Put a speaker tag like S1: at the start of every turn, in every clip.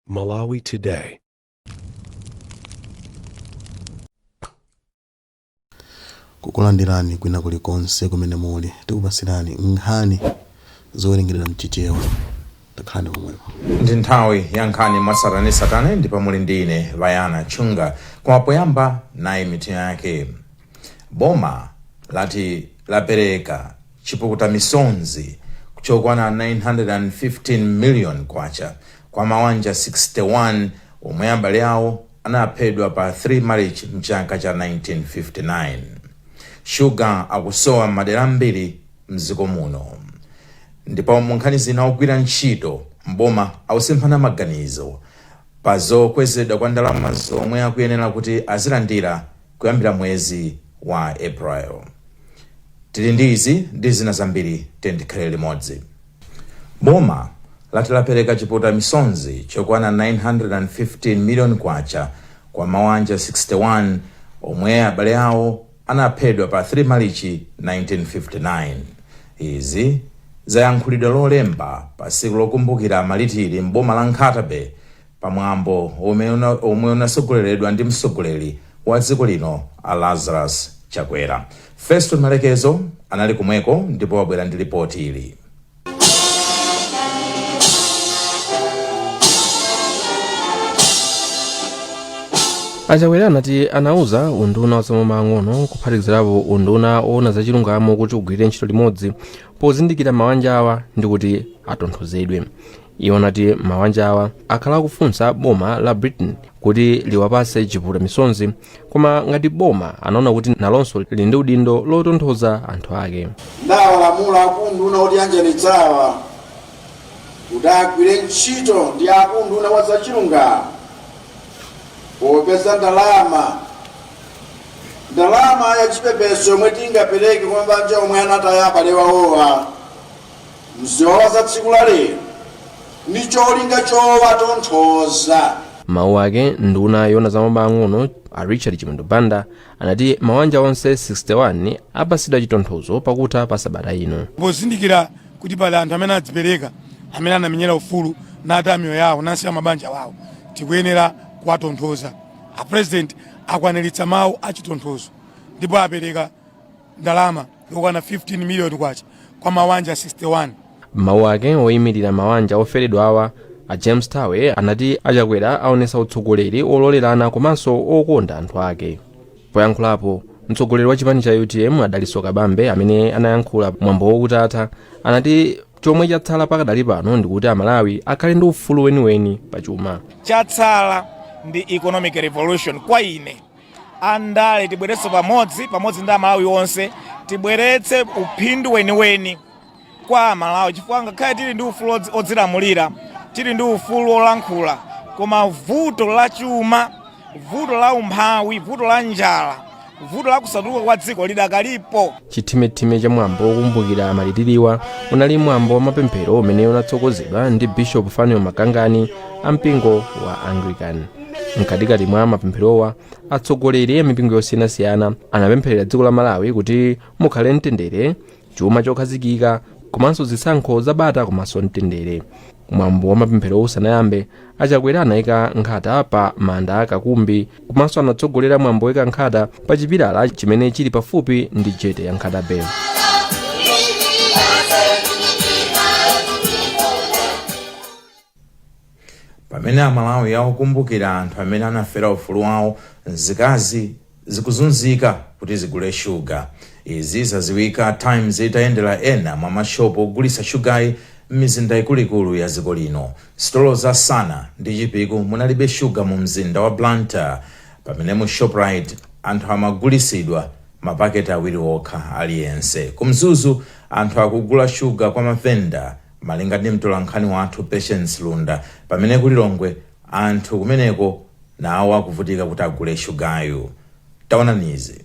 S1: Malawi
S2: Today. kukulandirani kwina kulikonse kumene muli tikupasirani nkhani zowerengedwa mchichewa takhalani pomwepo ndi nthawi
S3: ya nkhani mwatsatanetsatane ndipo muli ndi ine Vayana Chunga koma poyamba nayi mitu yake Boma lati lapereka chipukuta misonzi chokwana 915 million kwacha kwa mawanja 61 omwe abale awo anaphedwa pa 3 Malichi mchaka cha 1959. Shuga akusowa m'madera ambiri mdziko muno ndipo munkhani zina ogwira ntchito m'boma akusemphana maganizo pa zokwezedwa kwa ndalama zomwe akuyenera kuti azilandira kuyambira mwezi wa April. Tili ndi izi ndi zina zambiri tiyeni tikhalire limodzi. Boma lati lapereka chiputa misonzi chokwana 915 million kwacha kwa mawanja 61 omwe abale awo anaphedwa pa 3 malichi 1959 izi zayankhulidwa lolemba pa tsiku lokumbukira amalitira m'boma la nkhata bay pamwambo omwe unatsogoleredwa ndi mtsogoleri wa dziko lino a Lazarus Chakwera. Feston Malekezo anali komweko ndipo wabwera ndi lipoti ili.
S4: achakwera anati anauza unduna wa zamaboma ang'ono kuphatikizirapo unduna woona zachilungamo kuti ugwirire ntchito limodzi pozindikira mawanja awa ndi kuti atonthozedwe iwo anati mawanja awa akhala akufunsa boma la britain kuti liwapase chiputa misonzi koma ngati boma anaona kuti nalonso lili ndi udindo lotonthoza anthu ake ndawalamula
S5: akunduna otiyanjanitsa awa kuti agwire ntchito ndi akunduna wa zachilungamo popeza ndalama ndalama ya chipepeso yomwe tingapereke kwa mabanja omwe anataya abale awowa m'ziwawa za tsiku la lero ndi cholinga chowatonthoza. M'mawu ake,
S4: nduna yoona za maboma ang'ono a Richard Chimwendo Banda anati mawanja onse 61 apasidwa chitonthozo pakutha pa sabata ino. Pozindikira
S6: kuti pali anthu amene adzipereka amene anamenyera ufulu nataya miyoyo yawo nasiya mabanja wawo, tikuyenera kuwatonthoza. A President akwaniritsa mawu a chitonthozo ndipo apereka ndalama yokwana 15 miliyoni kwacha kwa mawanja 61 m'mawu
S4: ake oyimirira mawanja oferedwa awa a james thawe anati achakwera aonesa utsogoleri ololerana komanso okonda anthu ake poyankhulapo mtsogoleri wa chipani cha utm a dalitso kabambe amene anayankhula mwambo wokutatha anati chomwe chatsala pakadali pano ndikuti amalawi akhale ndi ufulu weniweni pa chuma chatsala
S7: ndi economic revolution kwa ine andale tibweretse pamodzi pamodzi ndi amalawi onse tibweretse uphindu weniweni kwa amalawi chifukwa ngakhale tili ndi ufulu odzi- odzilamulira tili ndi ufulu olankhula koma vuto la chuma vuto la umphawi vuto la njala vuto la kusatukuka kwa dziko lidakalipo chithimithimi
S4: cha mwambo wokumbukira malitiriwa unali mwambo wa mapemphero umene unatsogozedwa ndi bishop fanuel magangani a mpingo wa anglican mkatikati mwa mapempherowa atsogoleri a mipingo yosiyanasiyana anapempherera dziko la malawi kuti mukhale mtendere chuma chokhazikika komanso zisankho zabata komanso mtendere mwambo wa mapemphero usanayambe achakwera anayika nkhata pa manda a kakumbi komanso anatsogolera mwambo woika nkhata pa chipilala chimene chili pafupi ndi jete ya nkhata
S3: bay pamene amalawi akukumbukira anthu amene anafera ufulu wawo nzika zikuzunzika kuti zigule shuga izi zaziwika times itayendera ena mwa mashopu ogulitsa shugayi m'mizinda ikuluikulu ya dziko lino Sitolo za Sana ndi Chipiku munalibe shuga mu mzinda wa Blantyre pamene mu Shoprite anthu amagulisidwa mapaketi awiri okha aliyense. Ku Mzuzu anthu akugula shuga kwa mavenda malinga ndi mtolankhani wathu Patience Lunda pamene ku Lilongwe anthu kumeneko nawo akuvutika kuti agule shugayu. Taonani izi.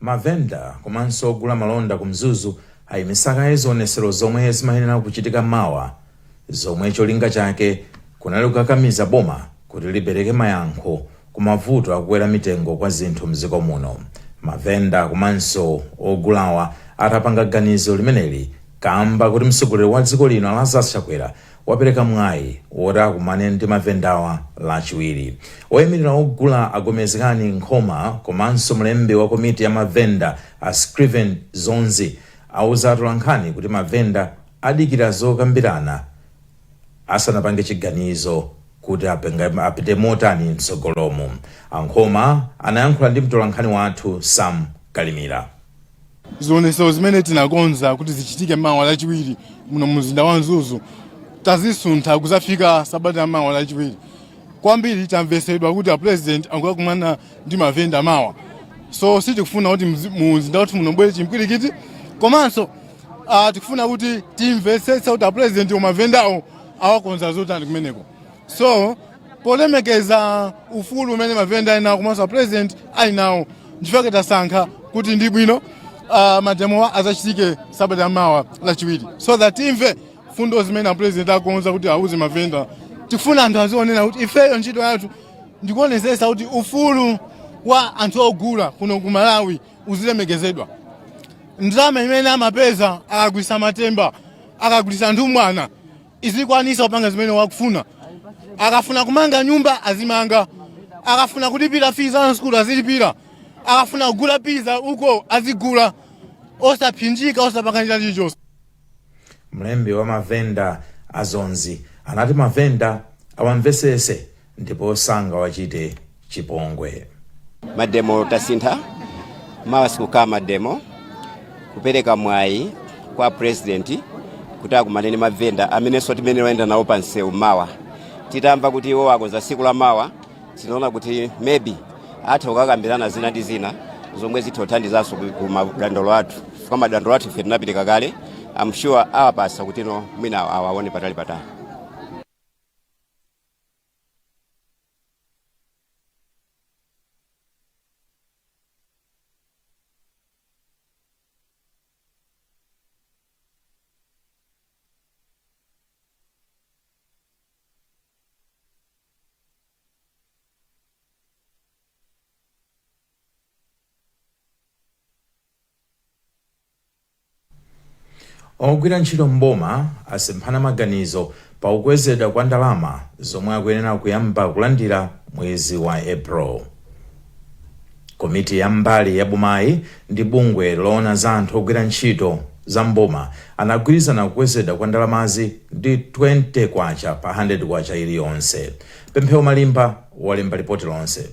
S3: mavenda komanso ogula malonda ku mzuzu ayimisa kaye zionetsero zomwe zimayenera kuchitika mawa zomwe cholinga chake kunali kukakamiza boma kuti lipereke mayankho ku mavuto akukwera mitengo kwa zinthu mdziko muno. Mavenda komanso ogulawa atapanga ganizo limeneli kamba kuti mtsogoleri wa dziko lino a Lazarus Chakwera wapereka mwayi woti akumane ndi mavendawa lachiwiri. Oyimilira ogula a Gomezgani Nkhoma komanso mlembi wa komiti ya mavenda a Scriven Dzonzi auza atolankhani kuti mavenda adikira zokambirana asanapange chiganizo kuti apite motani mtsogolomo. A Nkhoma anayankhula ndi mtolankhani wathu Sam Kalimira.
S1: Zionetsero zimene tinakonza kuti zichitike mawa Lachiwiri muno mumzinda wa Mzuzu tazisuntha kudzafika sabata ya mawa Lachiwiri. kwambiri tamvesedwa kuti a president akukumana ndi mavenda mawa so sitikufuna kuti mzi- mu mzinda wathu muno mbwere chimpwirikiti komanso ah, tikufuna kuti timvetsetse kuti a president mavendawo awakonzera zotani kumeneko so polemekeza ufulu umene mavenda ali nawo komanso a president ali nawo ndichifukwa tasankha kuti ndi bwino ah, mademowa azachitike sabata mawa lachiwiri so that timve fundo zimene apulezidenti akonza kuti auze mavenda tifuna anthu azionena kuti ifeyo ntchito yathu ndikuonesesa kuti ufulu wa anthu ogula kuno ku malawi uzilemekezedwa ndalama imene amapeza akagulisa matemba akagulisa nthumwana izikwanisa kupanga zimene wakufuna akafuna kumanga nyumba azimanga akafuna kulipira fees za sukulu azilipira akafuna kugula piza uko azigula osapsinjika osapakanira chilichonse
S3: Mlembi wa mavenda a Dzonzi anati mavenda awamvetsetse ndipo sangawachite chipongwe. Mademo
S8: tasintha, mawa sikukhala mademo. Kupereka mwayi kwa president kuti akumane ndi mavenda amenenso timene wayenda nawo pa msewu mawa, titamva kuti iwo akonza tsiku la mawa tinaona kuti maybe atha kukakambirana zina ndi zina zomwe zitha kuthandizanso ku- ku madandolo athu chifukwa madandolo athu ife tinapereka kale am sure awapasa kuti no mwina awaone patali patali
S3: ogwira ntchito m'boma asemphana maganizo pa kukwezedwa kwa ndalama zomwe akuyenera kuyamba kulandira mwezi wa april Komiti ya mbali ya bomayi ndi bungwe loona za anthu ogwira ntchito za m'boma anagwirizana kukwezedwa kwa ndalamazi ndi K20 pa K100 iliyonse. Pemphero Malimba walemba lipoti lonse.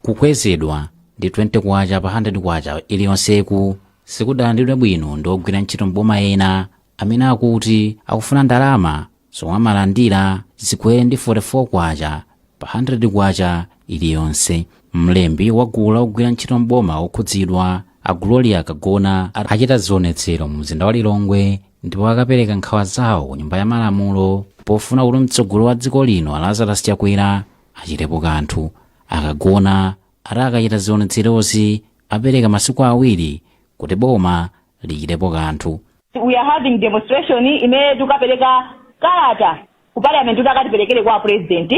S9: Kukwezedwa ndi K20 pa K100 iliyonseku sikudalandidwe bwino ndi ogwira ntchito m'boma ena amene akuti akufuna ndalama zomwe amalandira zikwere ndi K44 pa K100 iliyonse. Mlembi wa gulu la ogwira ntchito m'boma okhudzidwa, a Gloria Kagona, ati achita zionetsero mumzinda wa Lilongwe ndipo akapereka nkhawa zawo ku Nyumba ya Malamulo pofuna kuti mtsogoleri wa dziko lino a Lazarus Chakwera achitepo kanthu. A Kagona ati akachita zionetserozi apereka masiku awiri kuti boma lichitepo kanthu. we are
S10: having demonstration imene tukapereka kalata ku parliament kuti akatiperekere kwa a president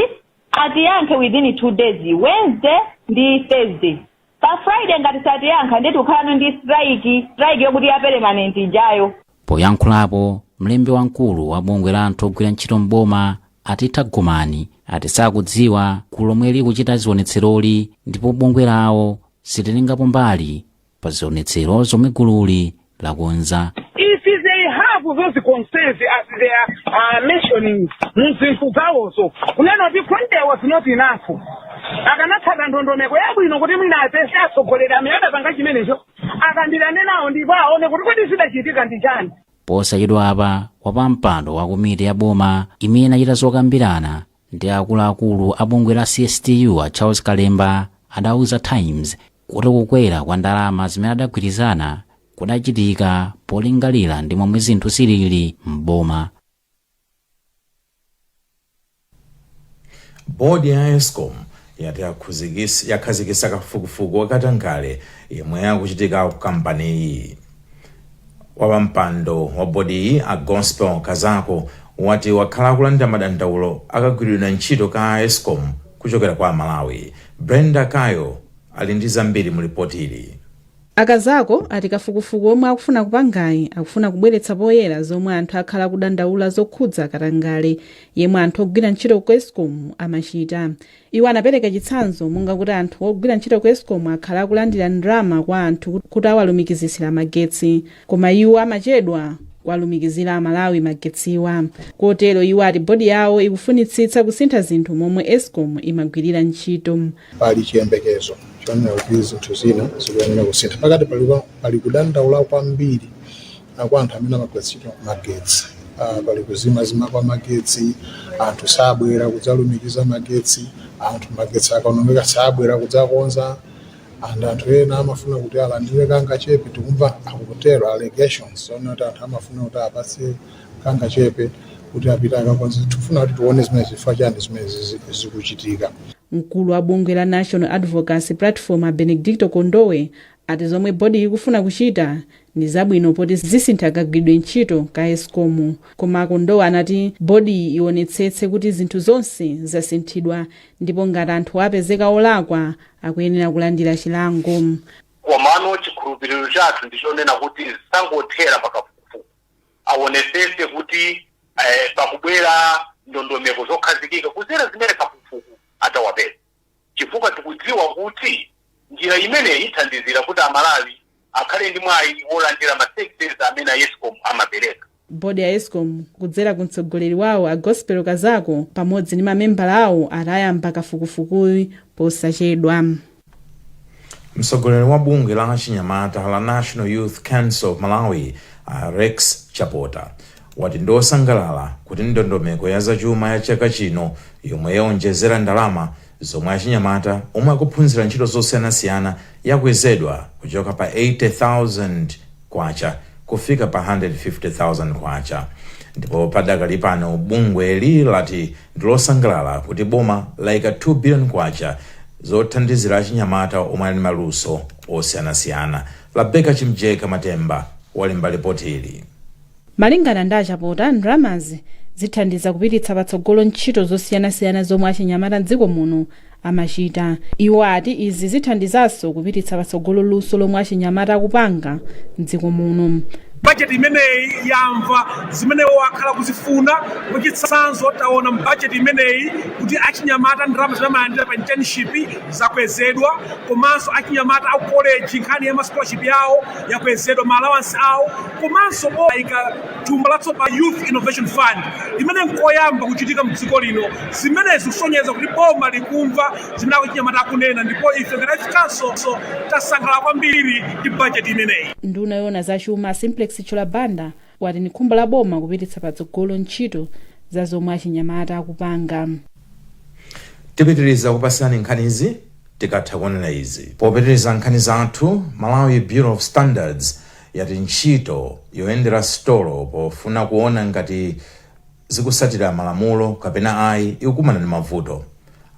S10: atiyankhe within two days wednesday ndi thursday pa friday ngati satiyankha ndiye tukukhalano ndi strike strike yokuti ya permanent ijayo
S9: poyankhulapo mlembi wamkulu wa bungwe la anthu ogwira ntchito m'boma a Titha Gomani ati sakudziwa gulu lomwe likuchita zionetseroli ndipo bungwe lawo silitengapo mbali pa zionetsero zomwe gululi lakonza if
S11: they have those concerns as they are uh, mentioning mu zinthu zawozo kunena kuti Friday was not enough akanatsata ndondomeko yabwino kuti mwina apeze atsogoleri amene adapanga zimenezo akambirane nawo ndipo aone kuti kodi zidachitika ndi chani posachedwa
S9: apa wapampando wa komiti ya boma imene inachita zokambirana ndi akuluakulu a bungwe la cstu a charles kalemba adauza times kuti kukwera kwa ndalama zimene adagwirizana kudachitika polingalira ndi momwe zinthu zilili m'boma
S3: bodi ya escom yati yakhazikitsa kafukufuku wa katangale yemwe akuchitika ku kampaniyi wapampando wa bodiyi a gospel kazako wati wakhala akulandira madandaulo a kagwiridwe ntchito ka escom kuchokera kwa amalawi brenda kayo ali ndi zambiri mu lipoti ili a
S12: kazako ati kafukufuku omwe akufuna kupangayi akufuna kubweretsa poyera zomwe anthu akhala akudandaula zokhudza katangale yemwe anthu ogwira ntchito ku escom amachita Iwo anapereka chitsanzo monga kuti anthu ogwira ntchito ku escom akhala akulandira ndalama kwa anthu kuti awalumikizitsire magetsi koma iwo amachedwa kuwalumikizira amalawi magetsiwa kotero iwo ati bodi yawo ikufunitsitsa kusintha zinthu momwe escom imagwirira ntchito. Pali
S13: chiyembekezo chonena kuti zinthu zina zikuyenera kusintha. Pakadalipano pali kudandaula kwambiri. kwa anthu amene amagwiritsa ntchito magetsi. Ah, Pali kuzimazima kwa magetsi, anthu sabwera kudzalumikiza magetsi, anthu magetsi akaonongeka sabwera kudzakonza, and anthu ena amafuna kuti alandire kangachepe tikumva akutero allegations zonena kuti anthu amafuna kuti apatsidwe kangachepe kuti apite akakonze. Tikufuna kuti tione zimene chifukwa chani zimene zizi- zikuchitika. mkulu wa
S12: bungwe la national advocacy platform a benedicto kondowe ati zomwe bodiyi ikufuna kuchita ndi zabwino poti zisintha kagwiridwe ntchito ka Escom koma a Kondowe anati bodiyi iwonetsetse kuti zinthu zonse zasinthidwa ndipo ngati anthuwa apezeka olakwa akuyenera kulandira chilango.
S14: Komano chikhulupiriro chathu ndi chonena kuti sangothera pa kafukufuku awonetsetse kuti pakubwera ndondomeko zokhazikika kudzera zimene kafukufuku adzapeza. chifukwa tikudziwa kuti njira imeneyi ithandizira kuti a Malawi akhale ndi mwayi wolandira ma services amene a escom amapereka. Bodi ya Escom
S12: kudzera ku mtsogoleri wawo a Gospel Kazako pamodzi ndi mamembala awo ati ayamba kafukufukuyi
S3: posachedwa. Mtsogoleri wa bungwe la achinyamata la National Youth Council of Malawi a Rex Chapota wati ndi osangalala kuti ndondomeko ya za chuma ya chaka chino yomwe yaonjezera ndalama zomwe achinyamata omwe akuphunzira ntchito zosiyanasiyana yakwezedwa kuchoka pa K80,000 kufika pa K150,000 ndipo padakali pano bungweli lati ndi losangalala kuti boma laika K2 biliyoni zothandizira achinyamata omwe ali ndi maluso osiyanasiyana. Rabecca Chimjeka Matemba walemba lipoti ili.
S12: Malingana ndi a Chapota, ndalamazi zithandiza kupititsa patsogolo ntchito zosiyanasiyana zomwe achinyamata m'dziko muno amachita. Iwo ati izi zithandizanso kupititsa patsogolo luso lomwe achinyamata akupanga m'dziko muno. Bajeti
S15: imeneyi yamva zimene iwowo akhala akufuna. Mwachitsanzo, taona m'bajeti imeneyi kuti achinyamata ndalama zimene amalandira pa internship zakwezedwa komanso achinyamata a ku koleji nkhani ya ma scholarship yawo yakwezedwa, ma allowance awo. komanso aika thumba latsopano Youth Innovation Fund imene nkoyamba kuchitika mdziko lino. Zimenezi zikusonyeza kuti boma likumva zimene achinyamata akunena ndipo ife ngati a khonsolo tasangalala kwambiri ndi bajeti imeneyi. Nduna yoona za
S12: chuma a Simplex Chithyola Banda wati ndi khumbo la boma kupititsa patsogolo ntchito za zomwe achinyamata
S3: akupanga. tipitiriza kupasirani nkhanizi tikatha kunena izi popitiriza nkhani zathu malawi bureau of standards yati ntchito yoyendera sitolo pofuna kuona ngati zikusatira malamulo kapena ayi ikukumana ndi mavuto.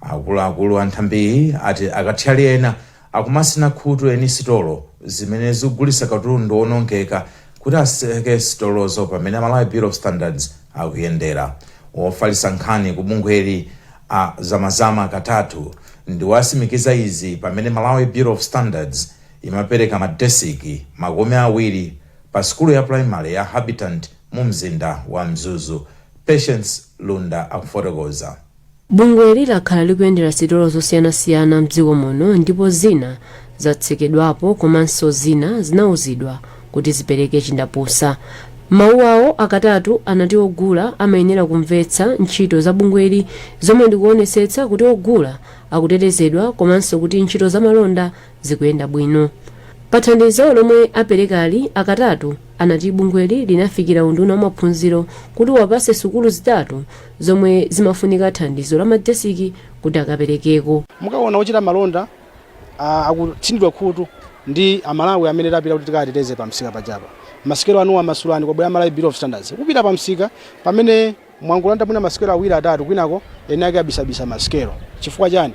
S3: Akuluakulu a nthambiyi ati akathyali ena akumasina khutu eni sitolo zimene zikugulitsa katundu woonongeka kuti aseke sitolozo pamene Malawi Bureau of Standards akuyendera. Wofalitsa nkhani ku bungweli a Zamazama Katatu ndiwo asimikiza izi pamene Malawi Bureau of Standards imapereka ma desiki makumi awiri pa sukulu ya primary ya Habitat mu mzinda wa Mzuzu. Patience Lunda akufotokoza. Bungweli
S16: lakhala likuyendera sitolo zosiyanasiyana mdziko muno ndipo zina zatsekedwapo komanso zina zinauzidwa kuti zipereke chindapusa. Mawu awo a Katatu anati ogula amayenera kumvetsa ntchito za bungweli zomwe ndikuonetsetsa kuti ogula akutetezedwa komanso kuti ntchito zamalonda zikuyenda bwino. Pa thandizo lomwe aperekali, a Katatu anati bungweli linafikira unduna wa maphunziro kuti uwapatse sukulu zitatu zomwe zimafunika thandizo la madesiki kuti akaperekeko. Mukaona
S17: ochita malonda akutsinidwa khutu ndi a Malawi amene tapita kuti tikawateteze pa msika pajapa. Masikelo anu masulani kwabwera Malawi Bureau of Standards. Kupita pa msika pamene. Mwangolanda mwina masikelo awiri atatu kwinako eni ake abisabisa masikelo. Chifukwa chani?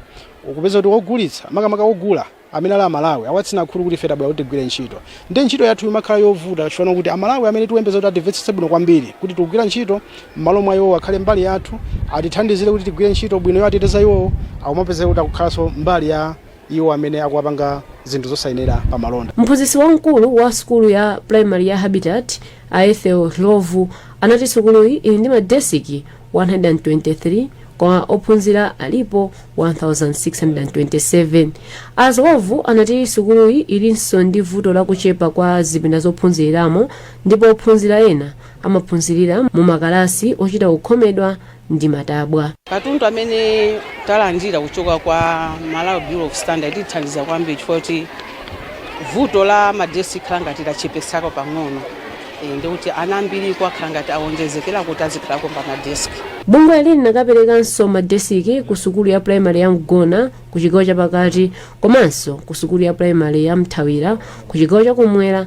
S17: Ukupeza kuti ogulitsa, makamaka ogula, amene ali a Malawi, awatsina khutu kuti ife tabwera kuti tigwire ntchito. Ndiye ntchito yathu imakhala yovuta chifukwa chokuti a Malawi amene tikuyembekeza kuti atimvetsetse bwino kwambiri kuti tikugwira ntchito, mmalo mwa iwowo akhale mbali yathu, atithandizire kuti tigwire ntchito bwino yowateteza iwowo, akumapezeka kuti akukhalanso mbali ya. iwo amene akuwapanga zinthu zosayenera pa malonda. mphunzitsi
S16: wamkulu wa sukulu ya primary ya habitat a ethel ndlovu anati sukuluyi ili ndi madesiki 123 koma ophunzira alipo 1627 a ndlovu anati sukuluyi ilinso ndi vuto la kuchepa kwa zipinda zophunziriramo ndipo ophunzira ena amaphunzirira mu makalasi ochita kukhomedwa ndi matabwa. Katundu
S18: amene talandira kuchoka kwa Malawi Bureau of Standards atithandiza kwambiri chifukwa choti vuto la ma desk likhala ngati lachepako pang'ono eh, ndikuti ana ambiriko akhala ngati awonjezekera kuti azikhalako pa ma desk.
S16: Bungweli linakaperekanso madesiki ku sukulu ya primary ya Mgona ku chigawo chapakati komanso ku sukulu ya primary ya Mthawira ku chigawo chakumwera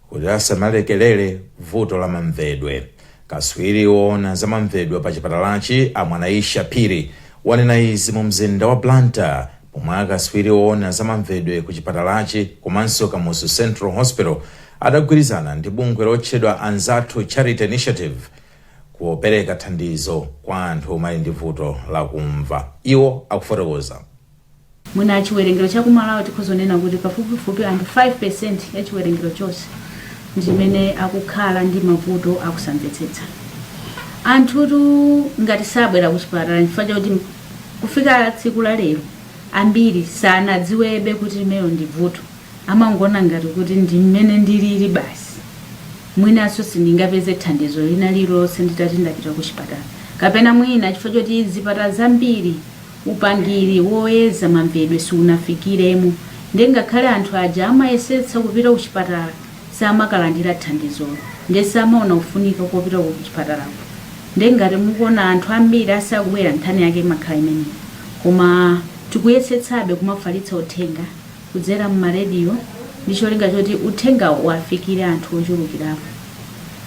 S3: Kuti asamalekelere vuto la mamvedwe, katswiri woona za mamvedwe pa chipatalachi a Mwanaisha Phiri wanena izi mu mzinda wa Blantyre pomwe akatswiri oona za mamvedwe ku chipatalachi komanso Kamuzu Central Hospital adagwirizana ndi bungwe lotchedwa Anzathu Charity Initiative kupereka thandizo kwa anthu omwe ali ndi vuto la kumva. Iwo akufotokoza.
S19: Mwina chiwerengero cha ku Malawi tikhoza kunena kuti pafupifupi anthu 5% ya chiwerengero chonse ndi amene akukhala ndi mavuto akusamvetsetsa. Anthutu ngati sabwera ku chipatala chifukwa chakuti kufika tsiku la lero ambiri sanadziwebe kuti limenelo ndi vuto, amangoona ngati kuti ndi mmene ndilili basi, mwinanso sindingapeze thandizo lina lililonse nditati ndapita ku chipatala, kapena mwina chifukwa choti zipatala zambiri upangiri woyeza mamvedwe siunafikiremo nde ngakhale anthu aja amayesetsa kupita kuchipatala samakalandira thandizolo nde samaona kufunika kopita kuchipatalako nde ngati mukuona anthu ambiri asakubwera nkhani yake imakhala imeneyo koma tikuyesetsabe kumafalitsa uthenga kudzera mma radio ndi cholinga choti uthengawo uwafikire anthu ochulukirapo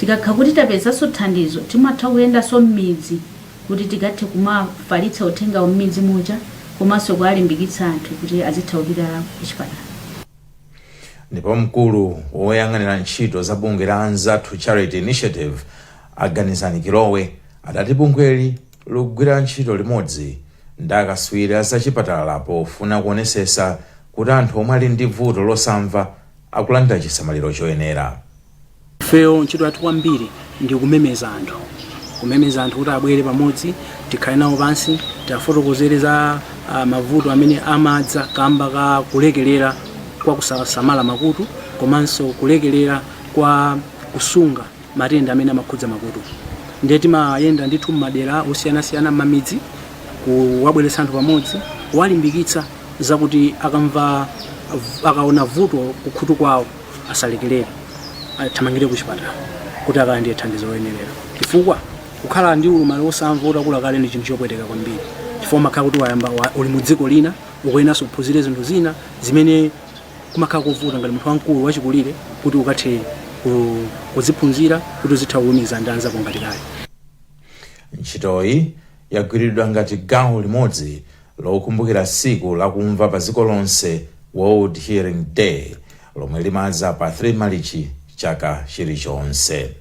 S19: tikakha kuti tapezanso thandizo timatha kuyendanso mmidzi kuti tikathe kumafalitsa uthengawu m'midzi muja komanso kuwalimbikitsa anthu kuti azitha kupita kuchipatala.
S3: Ndipo mkulu woyang'anira ntchito za bungwe la Anzathu Charity Initiative a Ganizani Kilowe adati bungweli likugwira ntchito limodzi ndi akatswiri a zachipatala pofuna kuonesesa kuti anthu omwe ali ndi vuto losamva akulandira chisamaliro choyenera.
S17: Ifeyo ntchito yathu kwambiri ndi kumemeza anthu, kumemeza anthu kuti abwere pamodzi tikhale nawo pansi tiwafotokozere za ah, mavuto amene amadza kamba ka kulekerera kwa kusasamala makutu komanso kulekerera kwa kusunga matenda amene amakhudza makutu. Ndiye timayenda ndithu m'madera osiyanasiyana m'mamidzi kuwabweretsa anthu pamodzi kuwalimbikitsa zakuti akaona vuto kukhutu kwawo asalekerere athamangire ku chipatala kuti akalandire thandizo loyenerera chifukwa kukhala ndi ulumali wosamva utakula kale ndi chinthu chopweteka kwambiri chifukwa umakhala kuti wayamba wa- uli mu dziko lina ukuyeneranso kuphunzira zinthu zina zimene kumakhala kovuta ngati munthu wamkulu wachikulire kuti ukathe ku- kuziphunzira kuti uzitha kulumikiza ndi anzako ngati kale ntchitoyi
S3: yagwiridwa ngati gawo limodzi lokumbukira tsiku la kumva pa dziko lonse, World Hearing Day, lomwe limadza pa 3 Malichi chaka chilichonse.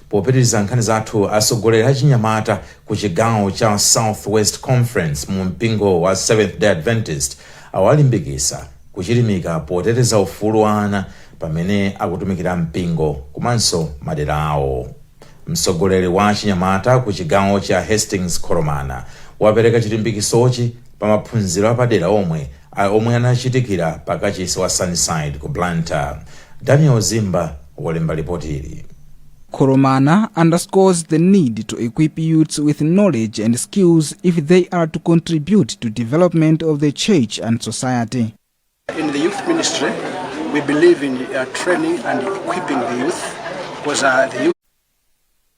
S3: Popitiriza nkhani zathu, atsogoleri achinyamata ku chigawo cha South West Conference mu mpingo wa Seventh Day Adventist awalimbikitsa kuchilimika poteteza ufulu wa ana pamene akutumikira mpingo komanso madera awo. Mtsogoleri wa achinyamata ku chigawochi a Hastings Kholomana wapereka chilimbikisochi pa maphunziro apadera omwe a omwe anachitikira pa kachisi wa Sunnyside ku Blantyre. Daniel Zimba walemba lipotili. Kholomana
S20: underscores the need to equip youths with knowledge and skills if they are to contribute to development of the church and society. In the
S13: youth ministry, we believe in uh, training and equipping the youth because uh, the youth